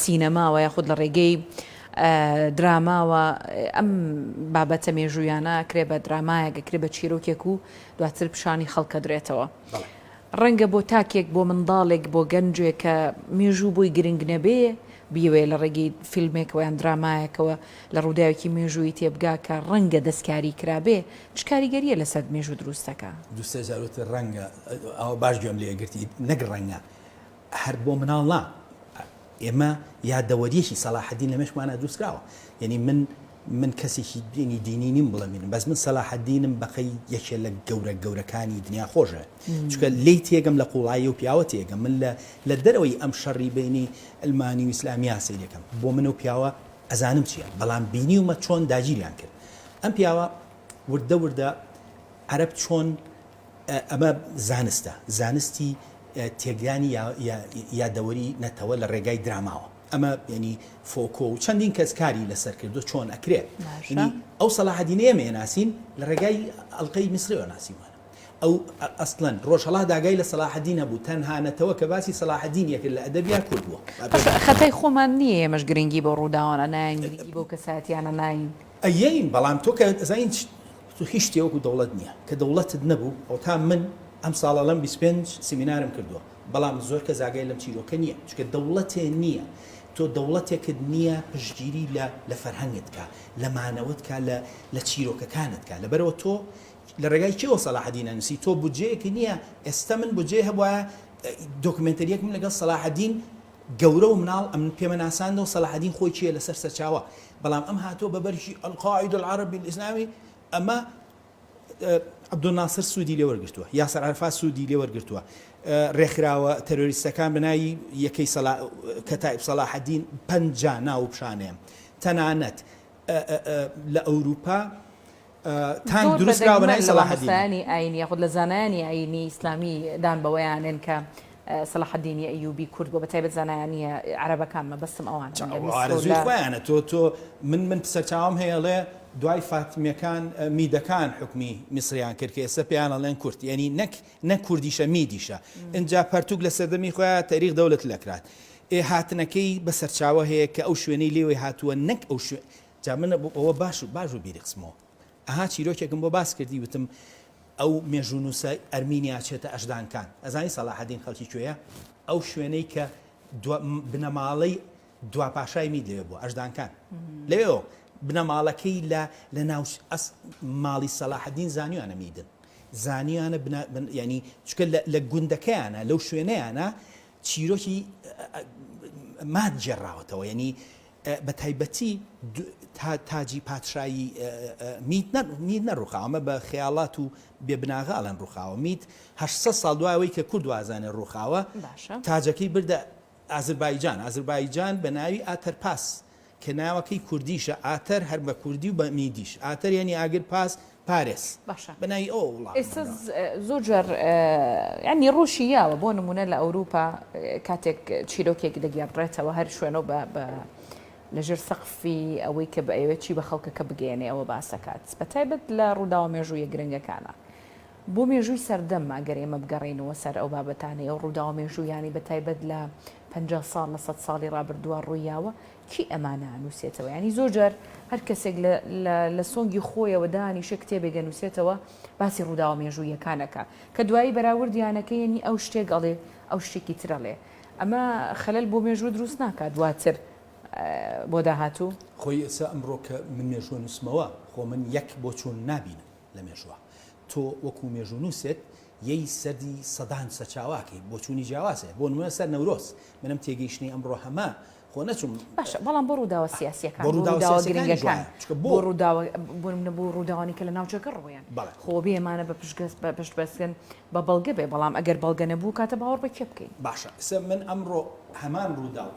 سینەماوە یاخود لە ڕێگەی دراماوە ئەم بابەتە مێژوویانە کرێ بە درامایەکە کرێ بە چیرۆکێک و دواتر پیشانی خەڵکە درێتەوە. ڕەنگە بۆ تاکێک بۆ منداڵێک بۆ گەنجێک کە مێژوو بۆی گرنگ نەبێ بیەوێ لە ڕێگەی فیلمێکەوە یان درامایەکەوە لە ڕووداوێکی مێژوویی تێبگا کە ڕەنگە دەستکاری کرابێ چ کاریگەرییە لەسەر مێژوو دروست دەکا؟ دوو سێ جار وتت ڕەنگە ئەوە باش گوێم لێ گرتیت نەک ڕەنگە هەر بۆ مناڵ نا ئێمە یادەوەریەکی سەلاحەدین لەمێشکمانا دروست کراوە یەنی من من کەسێکی دینی دینی نیم بڵێ مینم بەس من سەلاحەدینم بەقەی یەکێ لە گەورە گەورەکانی دنیا خۆشە چکە لی تێگەم لە قوڵایی و پیاوە تێگەم من لە لە دەرەوەی ئەم شەڕی بینی ئەلمانی و ئیسلامیا سەیرەکەم بۆ من و پیاوە ئەزانم چیە بەڵام بینیومە چۆن داگیریان کرد ئەم پیاوە وردە وردە عەرەب چۆن ئەمە زانستە، زانستی تێکدانی یادەوەری نەتەوە لە ڕێگای دراماوە. ئەمە یانی فۆکۆ و چەندین کەس کاری لەسەر کردوە چۆن ئەکرێ. یانی ئەو سەلاحەدینەی ئێمە ئەناسین لە ڕێگای ئەڵقەی میسرەوە ناسیومانە. ئەو ئەسڵەن ڕۆژهەڵات ئاگای لە سەلاحەدین نەبوو، تەنها نەتەوە کە باسی سەلاحەدین ئەکرد لە ئەدەبیا کورد بووە. خەتای خۆمان نییە ئێمەش گرنگی بەو ڕووداوانە ناین، گرنگی بەو کەسایەتیانە ناین. ئەیەین بەڵام تۆ کە ئەزانین تۆ هیچ شتێ وەکو دەوڵەت نیە کە دەوڵەتت نەبوو ئەوەتا من ئەم ساڵە لەم بیست پێنج سیمینارم کردوە بەڵام زۆر کەس ئاگای لەم چیرۆکە نیە چونکە دەوڵەتێ نیە تۆ دەوڵەتێکت نیە پشتگیری لە لە فەرهەنگت کا لە مانەوەت کا لە لە چیرۆکەکانت کا لەبەرئەوە تۆ لە ڕێگای کێوە سەلاحەدین ئەنوسی تۆ بودجەیەکت نیە ئێستا من بودجەی هەبوایە دۆکمێنتەریەکم لەگەڵ سەلاحەدین گەورە و مناڵ ئەم پێمە ناساندەوە سەلاحەدین خۆی کێیە لەسەر سەرچاوە بەڵام ئەم هاتووە بە بەرگی القاعدە العربی الاسلامی ئەمە عبدالناصر سوودی لێ وەرگرتووە یاسر عرفات سوودی لێ وەرگرتووە ڕێکخراوە تەرۆریستەکان بەناوی یەکەی سەلا کەتائب سەلاحەدین پەنجا ناو پیشانەیە تەنانەت لە ئەوروپا تانک دروست کراوە بە ناوی سەلاحەدین. زۆر بە دەگمەن لە مامۆستایانی ئاینی یاخود لە زانایانی ئاینی ئیسلامی دان بەوەیان نێن کە سەلاحەدینی ئەیوبی کورد بووە، بە تایبەت زانایانی عەرەبەکان، مەبەستم ئەوانە. جا ئەوە ئارەزووی خۆیانە، تۆ تۆ من من سەرچاوەم هەیە ئەڵێ دوای فاتمیەکان میدەکان حوکمی میسریان کرد کە ئێستا پێیان ئەڵێن کورد، یەنی نەک نەک کوردیشە میدیشە، ئینجا پەرتووک لە سەردەمی خۆیان تەریخ دەولەت لە کران. ئێ هاتنەکەی بە سەرچاوە هەیە کە ئەو شوێنەی لێوەی هاتووە نەک ئەو شوێ جا من بۆ ئەوە باش و باش بوو بیری خستمەوە. ئەها چیرۆکێکم بۆ باس کردی وتم ئەو مێژوونووسە ئەرمینیا چێتە ئەژدان کان. ئەزانی سەلاحەدین خەڵکی کوێیە؟ ئەو شوێنەی کە دوا بنەماڵەی دوا پاشای مید لەوێ بووە، ئەژدان کان. لەوێوە بنەماڵەکەی لە لە ناوچ ئەس ماڵی سەلاحەدین زانیویانە میدن. زانیویانە بنا بن یانی چونکە لە لە گوندەکەیانە لەو شوێنەیانە چیرۆکی ماد گێڕاوەتەوە یانی بە تایبەتی تاجی پادشایی میت نەڕووخاوە، ئەمە بە خەیاڵات و بێ بناغە ئەڵێن ڕووخاوە، میت هەشت سەد ساڵ دوای ئەوەی کە کورد وازانێ ڕووخاوە، تاجەکەی بردە ئازربایجان، ئازربایجان بە ناوی ئاتەرپاس کە ناوەکەی کوردیشە، ئاتەر هەر بە کوردی و بە میدیش، ئاتەر یانی ئاگر، پاس پارێس باشە بە ناوی ئەوە وڵامم ئێستا داوە. زۆر جار یانی ڕۆشی یاوە بۆ نموونە لە ئەوروپا کاتێک چیرۆکێک دەگێڕدرێتەوە هەر شوێنەو بە بە لە ژێر سەقفی ئەوەی کە بەیەوێت چی بە خەڵکەکە بگەیەنێ ئەوە باسەکات بە تایبەت لە ڕووداوە مێژوویە گرنگەکانە بۆ مێژووی سەردەم ئەگەر ئێمە بگەڕێینەوە سەر ئەو بابەتانەی ئەو ڕووداوە مێژوویانی بە تایبەت لە پەنجا ساڵ لە سەد ساڵی ڕابردووە ڕوویاوە کێ ئەمانە ئەنووسێتەوە؟ یانی زۆر جار هەر کەسێک لە سۆنگی خۆیەوە دانیشێ کتێبێک ئەنووسێتەوە باسی ڕووداوە مێژوویەکان ئەکا کە دوایی بەراوردیانەکە یەنی ئەو شتێک ئەڵێ ئەو شتێکی ترەڵێ ئەمە خەلەل بۆ مێژوو دروست ناکات دواتر بۆ داهاتوو خۆی ئێسا ئەمڕۆ کە من مێژووە نووسمەوە خۆ من یەک بۆ چوون نابینم لە مێژووە تۆ وەکو مێژوو نووسێت یەی سەدی سەدان سەچاواکەی بۆچوونی جیاوازێ بۆ نمونە سەر نەورۆز منم تێگەیشتنی ئەمڕۆ هەمە خۆ نەچووم باشە بەڵام بۆ ڕووداوە سیاسیەکان بۆ ڕووداوە گرنگەکان بۆ ڕووداوە بۆ ڕووداوانی کە لە ناوچەکە ڕوویان خۆ بێ ئەمانە بە پشگەست بە پشت بەستن بە بەڵگە بێ بەڵام ئەگەر بەڵگە نەبوو کاتە باوەڕ بە کێ بکەین باشە سە من ئەمڕۆ هەمان ڕووداو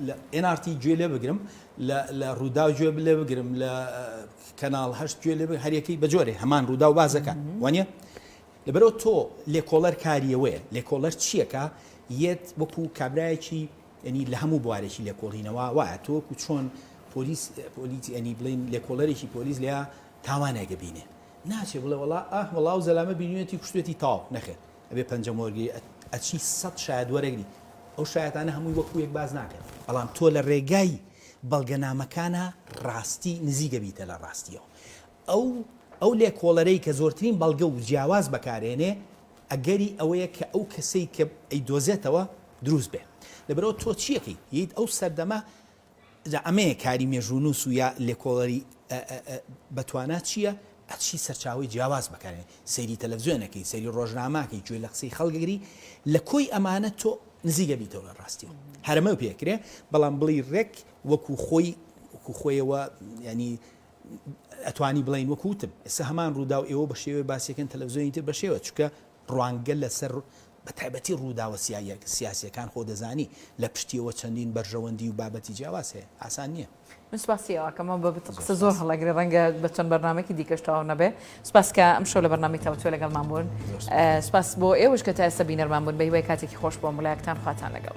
لە ئێنارتی گوێ لێ بگرم لە ڕووداو گوێ بلێ بگرم لە کەناڵ هەشت گوێ لێ هەرەکەی بەجۆرێ هەمان ڕووداو بازەکان وانە لەبەرەوە تۆ لێکۆڵەر کاریەوەیە لێکۆڵەر چیەکە یەت وەکو کابراایەکی یەنی لە هەموو بوارێکی لێکۆڵینەوا وایە تۆ وەکو چۆن پۆلیس پۆلیس یەنی بڵێن لێکۆڵەرێکی پۆلیس لێیا تاوانێک بینێ ناچێ بڵێ وەڵا ئاه وەڵا ئەو زەلامە بینویەتی کوشتوێتی تەواو نەخێر ئەبێ پەنجە مۆرگری ئەچی سەد شایەد وەرەگری ئەو شایەتانە هەمووی وەکو یەک باس ناکەن بەڵام تۆ لە ڕێگای بەڵگەنامەکانا ڕاستی نزیک ئەبیتە لە ڕاستیەوە ئەو ئەو لێکۆڵەرەی کە زۆرترین بەڵگە و جیاواز بەکارهێنێ ئەگەری ئەوەیە کە ئەو کەسەی کە ئەیدۆزێتەوە دروست بێ لەبەرئەوە تۆ چی ئەکەی یت ئەو سەردەمە جا ئەمەیە کاری مێژوونووس و یا لێکۆڵەری بەتوانا چییە ئەچی سەرچاوی جیاواز بەکارێن سەیری تەلەڤزیۆنەکەی سەیری ڕۆژناماکەی گوێ لە قسەی خەڵگەگری لە کۆی ئەمانە تۆ نزیگە بیتەوە لە ڕاستیەوە هەرمە پێکرێ بەڵام بڵی ڕێک وەکو خۆی وەکو خۆیەوە ینی ئەتوانی بڵێین وەک وتم ئێستا هەمان ڕووداو ئێوە بە شێوەیە باسیەکەن تەلەڤزیۆنی تر بە شێوە چکە ڕوانگە لەسەر بە تایبەتی ڕووداوە سیاسیەکان خۆ دەزانی لە پشتیەوە چەندین بەرژەوەندی و بابەتی جیاواز هەیە ئاسان نییە. من سپاسی ئەوەکەم مام بابت قسە زۆر هەڵەگرێ ڕەنگە بە چەند بەرنامەکی دیکەش تەواو نەبێ سپاس کە ئەمشەو لە بەرنامی تاوتوێ لەگەڵمان بوون سپاس بۆ ئێوەش کە تا ئێستا بینەرمان بوون بە هیوای کاتێکی خۆش بۆ ملایەکتان خواتان لەگەڵ.